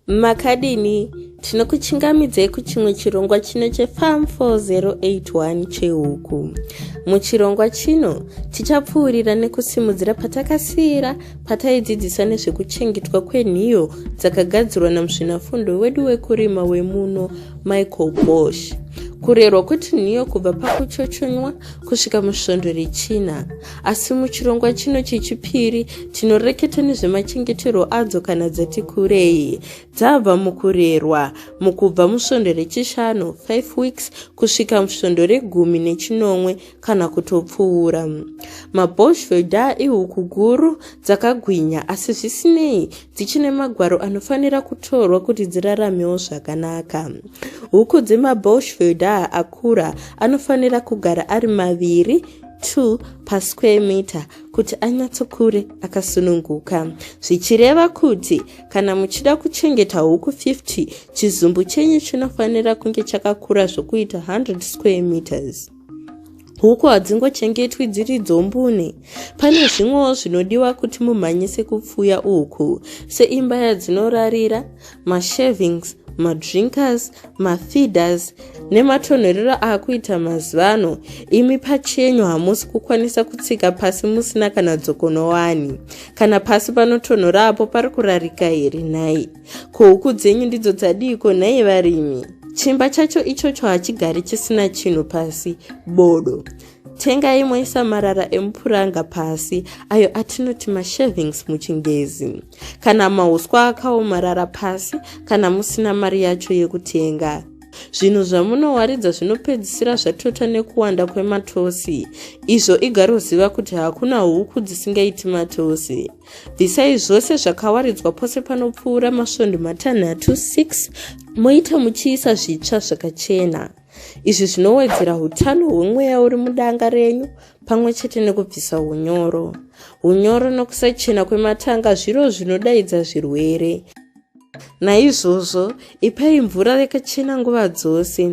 makadini tinokuchingamidzai kuchimwe chirongwa chino chefam 4081 chehuku muchirongwa chino tichapfuurira nekusimudzira patakasiyira pataidzidzisa nezvekuchengetwa kwenhiyo dzakagadzirwa namusvinafundo wedu wekurima wemuno michael bosh kurerwa kuti nhiyo kubva pakuchochonywa kusvika musvondo rechina Asi muchirongwa chino chechipiri tinoreketa nezvemachengeterwo adzo kana dzati kurei dzabva mukurerwa mukubva musvondo rechishanu 5 weeks kusvika musvondo regumi nechinomwe kana kutopfuura mabosveda ihuku guru dzakagwinya asi zvisinei dzichine magwaro anofanira kutorwa kuti dziraramewo zvakanaka huku dzemabosveda akura anofanira kugara ari maviri 2 pasquare meter kuti anyatsokure akasununguka zvichireva kuti kana muchida kuchengeta huku 50 chizumbu chenyu chinofanira kunge chakakura zvokuita 100 square meters huku hadzingochengetwi dziri dzombune pane zvimwewo zvinodiwa kuti mumhanyise kupfuya uku seimba yadzinorarira mashavings madrinkers mafeeders nematonhorero akuita mazuva ano imi pachenyu hamusi kukwanisa kutsika pasi musina kana dzokonowani kana pasi panotonhora apo pari kurarika here nhai ko huku dzenyu ndidzo dzadiiko nhai varimi chimba chacho ichocho hachigari chisina chinhu pasi bodo tengai moisa marara emupuranga pasi ayo atinoti mashavings muchingezi kana mauswa akaomarara pasi kana musina mari yacho yekutenga zvinhu zvamunowaridza zvinopedzisira zvatota nekuwanda kwematosi izvo igaroziva kuti hakuna huku dzisingaiti matosi bvisai zvose zvakawaridzwa pose panopfuura masvondo matanhatu 6 moita muchiisa zvitsva zvakachena izvi zvinowedzera utano hwemweya uri mudanga renyu pamwe chete nekubvisa unyoro unyoro nokusachena kwematanga zviro zvinodaidza zvirwere naizvozvo ipai mvura yakachena nguva dzose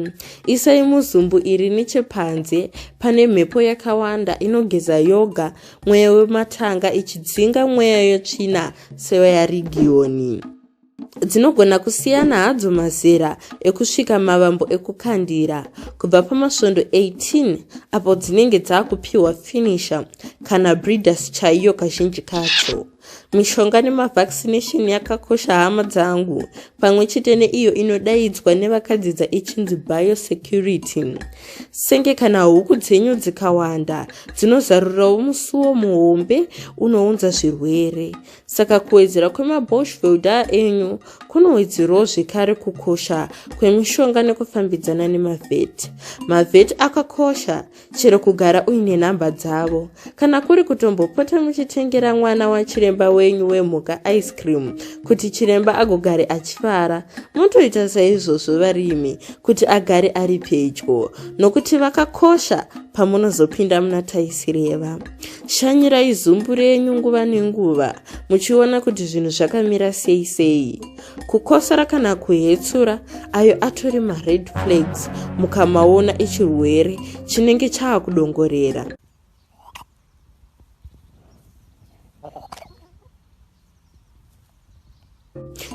isai muzumbu iri nechepanze pane mhepo yakawanda inogeza yoga mweya wematanga ichidzinga mweya yotsvina sevayarigiyoni dzinogona kusiyana hadzo mazera ekusvika mavambo ekukandira kubva pamasvondo 18 apo dzinenge dzaakupiwa finisher kana breeders chaiyo kazhinji kacho mishonga nemavaccination yakakosha hama dzangu pamwe chete neiyo inodaidzwa nevakadzidza ichinzi biosecurity senge kana huku dzenyu dzikawanda dzinozarurirawo musuwo muhombe unounza zvirwere Saka kuwedzera kwemaboshvelda enyu kunowedzerawo zvekare kukosha kwemishonga nekufambidzana nemavheti. Mavheti akakosha chero kugara uine nhamba dzavo. Kana kuri kutombopota muchitengera mwana wachiremba wenyu wemhuka ice cream kuti chiremba agogare achifara, motoita saizvozvo varimi kuti agare ari pedyo nokuti vakakosha pamunozopinda muna taisireva. shanyirai zumbu renyu nguva nenguva muchiona kuti zvinhu zvakamira sei sei kukosora kana kuhetsura ayo atori mared flags mukamaona ichirwere chinenge chaa kudongorera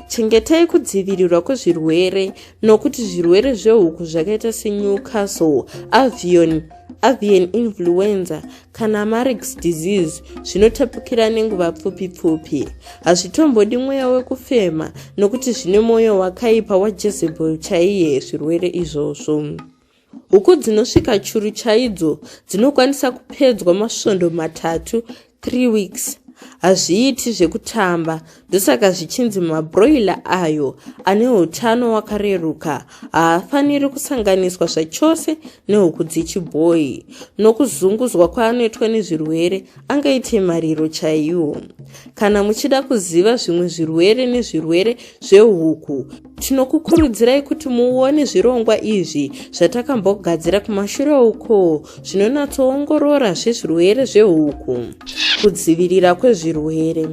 chengetai kudzivirirwa kwezvirwere nokuti zvirwere zvehuku zvakaita senewcastle avion avian influenza kana marix disease zvinotapukira nenguva pfupi pfupi hazvitombodi mweya wekufema nokuti zvine mwoyo wakaipa wajezebel chaiye zvirwere izvozvo Huku dzinosvika churu chaidzo dzinokwanisa kupedzwa masvondo matatu, 3 weeks. Hazviiti zvekutamba, ndosaka zvichinzi mabroiler ayo ane utano wakareruka haafaniri kusanganiswa zvachose nehuku dzechibhoyi. Nokuzunguzwa kwaanoitwa nezvirwere, angaite mariro chaiwo. Kana muchida kuziva zvimwe zvirwere nezvirwere zvehuku, Tinokukurudzirai kuti muone zvirongwa izvi zvatakambogadzira kumashure uko zvinonatsoongorora zvezvirwere zvehuku. Kudzivirira kwezvirwere.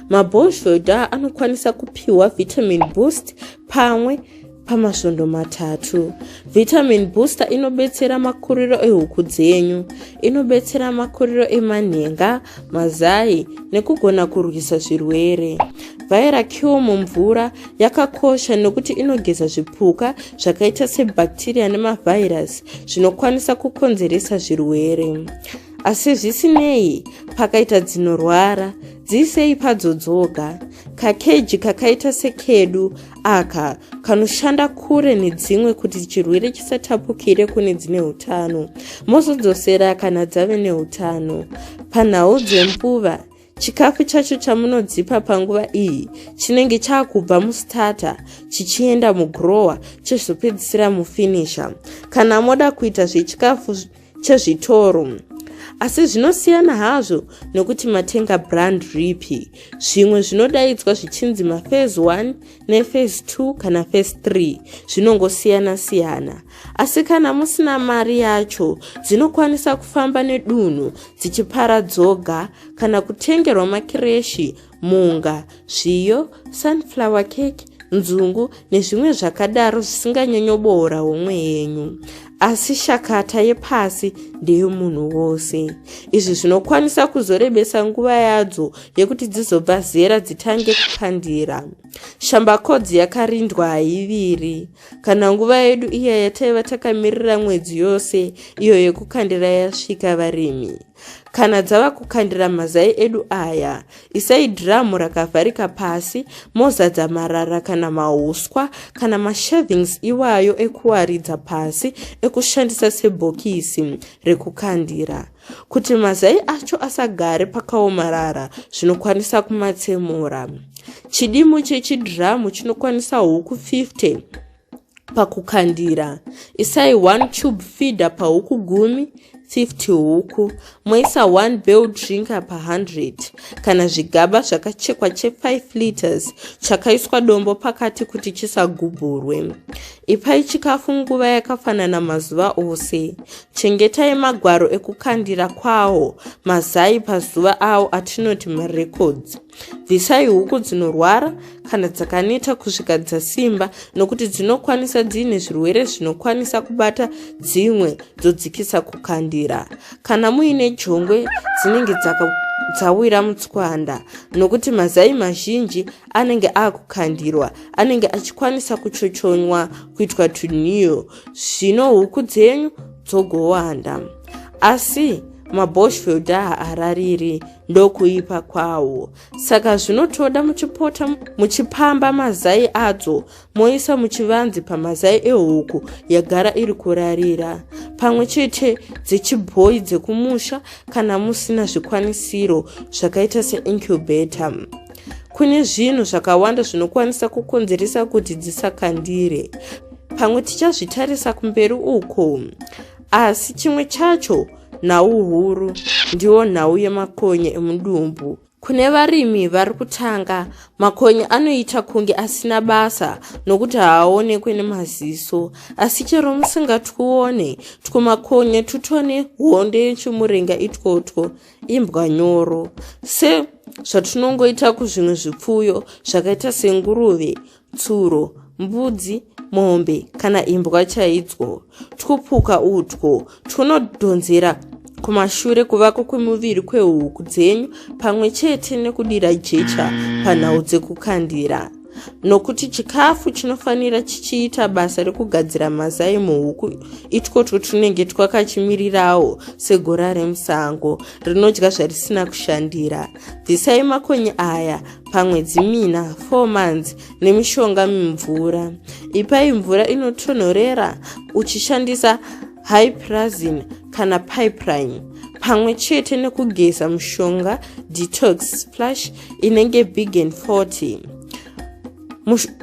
Mabhozhoda anokwanisa kupiwa vitamin boost pamwe pamasvondo matatu. Vitamin booster inobetsera makuriro ehuku dzenyu, inobetsera makuriro emanhenga, mazai nekugona kurwisa zvirwere. Vhaira kiwo mumvura yakakosha nokuti inogeza zvipuka zvakaita sebhakteriya nemavhairasi zvinokwanisa kukonzeresa zvirwere asi zvisinei pakaita dzinorwara dziisei padzo dzoga kakeji kakaita sekedu aka kanoshanda kure nedzimwe kuti chirwere chisatapukire kune dzine utano mozodzosera kana dzave neutano panhau dzembuva Chikafu chacho chamunodzipa panguva iyi chinenge chakubva mustarter chichienda mugrower chezopedzisira mufinisher kana moda kuita zvechikafu chezvitoro asi zvinosiyana hazvo nokuti matenga brand ripi zvimwe zvinodaidzwa zvichinzi mafase 1 nefase 2 kana fase 3 zvinongosiyana siyana Asi kana musina mari yacho, dzinokwanisa kufamba nedunhu dzichipara dzoga kana kutengerwa makireshi, munga, zviyo, sunflower cake, nzungu nezvimwe zvakadaro zvisinganyanyoboora homwe yenyu asi shakata yepasi ndeyomunhu wose izvi zvinokwanisa kuzorebesa nguva yadzo yekuti dzizobva zera dzitange kupandira shambakodzi yakarindwa haiviri Kana nguva yedu iya yataiva takamirira mwedzi yose iyo yekukandira yasvika varimi, kana dzava kukandira mazai edu aya, isai dhiramu rakavharika pasi mozadza marara kana mauswa kana mashavings iwayo ekuwaridza pasi ekushandisa sebhokisi rekukandira. Kuti mazai acho asagare pakaomarara, zvinokwanisa kumatsemura. Chidimu chechidhiramu chinokwanisa huku 50 pakukandira. Isai 1 tube feeder pahuku gumi 50 huku moisa 1 bell drinker pa 100 kana zvigaba zvakachekwa che 5 liters chakaiswa dombo pakati kuti chisagubhurwe ipai chikafu nguva yakafanana mazuva ose Chengetai magwaro ekukandira kwawo mazai pazuva awo atinoti marecords. Bvisai huku dzinorwara kana dzakaneta kusvika dzasimba nokuti dzinokwanisa dziine zvirwere zvinokwanisa kubata dzimwe dzodzikisa kukandira. Kana muine jongwe dzinenge dzawira mutswanda nokuti mazai mazhinji anenge akukandirwa anenge achikwanisa kuchochonywa kuitwa tunew zvino huku dzenyu dzogowanda asi maboshfield haarariri ndokuipa kwawo saka zvinotoda muchipota muchipamba mazai adzo moisa muchivanzi pamazai ehuku yagara iri kurarira pamwe chete dzechibhoyi dzekumusha kana musina zvikwanisiro zvakaita seincubator kune zvinhu zvakawanda zvinokwanisa kukonzeresa kuti dzisakandire pamwe tichazvitarisa kumberi uko asi chimwe chacho nhau huru ndiwo nhau yemakonye emudumbu kune varimi vari kutanga makonye anoita kunge asina basa nokuti haaonekwe nemaziso asi chero musingatwuone twumakonye twutone hondo yechimurenga itwotwo imbwa nyoro se zvatinongoita kuzvimwe zvipfuyo zvakaita senguruve tsuro mbudzi mombe kana imbwa chaidzo twupuka utwo twunodhonzera kumashure kuvako kwemuviri kwehuku dzenyu pamwe chete nekudira jecha panhau dzekukandira nokuti chikafu chinofanira chichiita basa rekugadzira mazai muhuku itwotwo tunenge twakachimirirawo segora remusango rinodya zvarisina kushandira bvisai makonye aya pamwedzi mina 4 months nemishonga mimvura ipai mvura inotonhorera uchishandisa hyprazin kana pipeline pamwe chete nekugeza mushonga detox splash inenge big and 40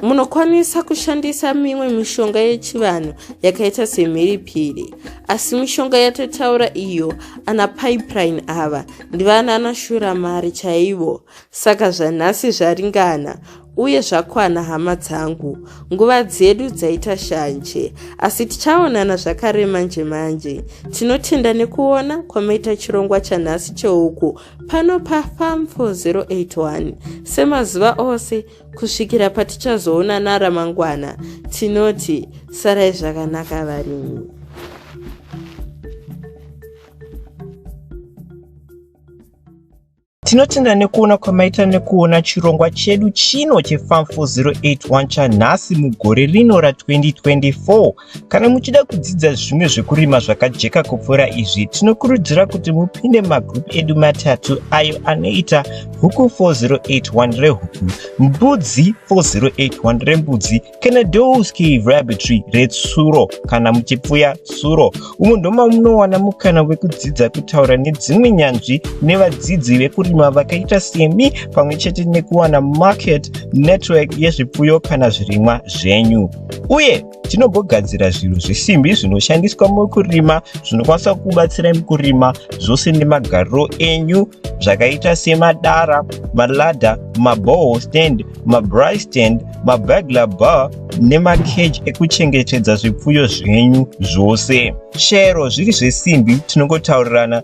Munokwanisa kushandisa mimwe mishonga yechivanhu yakaita semhiripiri, asi mishonga yatotaura iyo ana pipeline ava ndivana anashura mari chaivo, saka zvanhasi zvaringana uye zvakwana hama dzangu nguva dzedu dzaita shanje asi tichaonana zvakare manje manje tinotenda nekuona kwamaita chirongwa chanhasi cheuku pano pafam 4081 semazuva ose kusvikira patichazoonana ramangwana tinoti sarai zvakanaka varimi tinotenda nekuona kwamaita nekuona chirongwa chedu chino chefam 4081 chanhasi mugore rino ra 2024 Kana muchida kudzidza zvimwe zvekurima zvakajeka kupfuura izvi, tinokurudzira kuti mupinde mumagroup edu matatu ayo anoita Huku 4081 rehuku, Mbudzi 4081 rembudzi kana Dow's Cave Rabbitry retsuro kana muchipfuya tsuro. Umu ndoma munowana mukana wekudzidza kutaura nedzimwe nyanzvi nevadzidzi vekurima vakaita semi pamwe chete nekuwana market network yezvipfuyo kana zvirimwa zvenyu uye Tinombogadzira zvinhu zvesimbi zvinoshandiswa mukurima zvinokwanisa kubatsira mukurima zvose nemagariro enyu zvakaita semadara, maladha, maboho stand, mabry stand, mabagla bar nemakeji ekuchengetedza zvipfuyo zvenyu zvose. Shero zviri zvesimbi tinongotaurirana